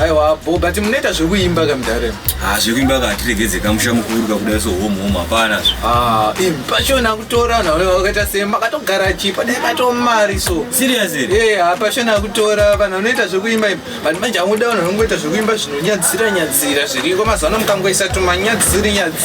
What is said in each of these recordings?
aiwa bho but munoita zvekuimba ka mudare Ah, zvekuimba ka hatiregedze kamusha mukuru kakuda so home home hapana zve Ah, im pachona kutora nawe wakaita sei makatogara chi padai pato mari so serious here Eh, ah, pachona kutora vanhu vanoita zvekuimba imba vanhu manje amuda vanhu vanongoita zvekuimba zvinonyadzira nyadzira zviriko mazuva ano mukangoisa tumanyadziri nyadziri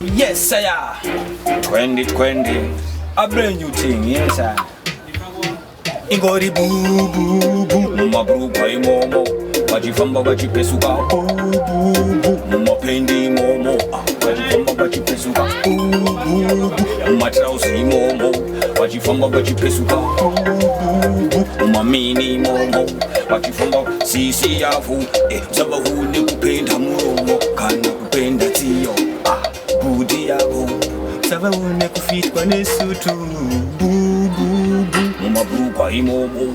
Yes, sir. 2020. A brand new thing, yes, sir. Ingori bu bu bu. Mumabruka imomo. Vachifamba vachipesuka. Bu bu bu. Mumapendi imomo. Vachifamba vachipesuka. Bu bu bu. Mumatrausi imomo. vachifamba vachipesuka mumamini momo vachifamba sisi yavo eh, zabahu nekupenda muromo kana kupenda tsiyo ah, budi yavo zabahu nekufitwa nesutu bububu mumabhurugwa imomo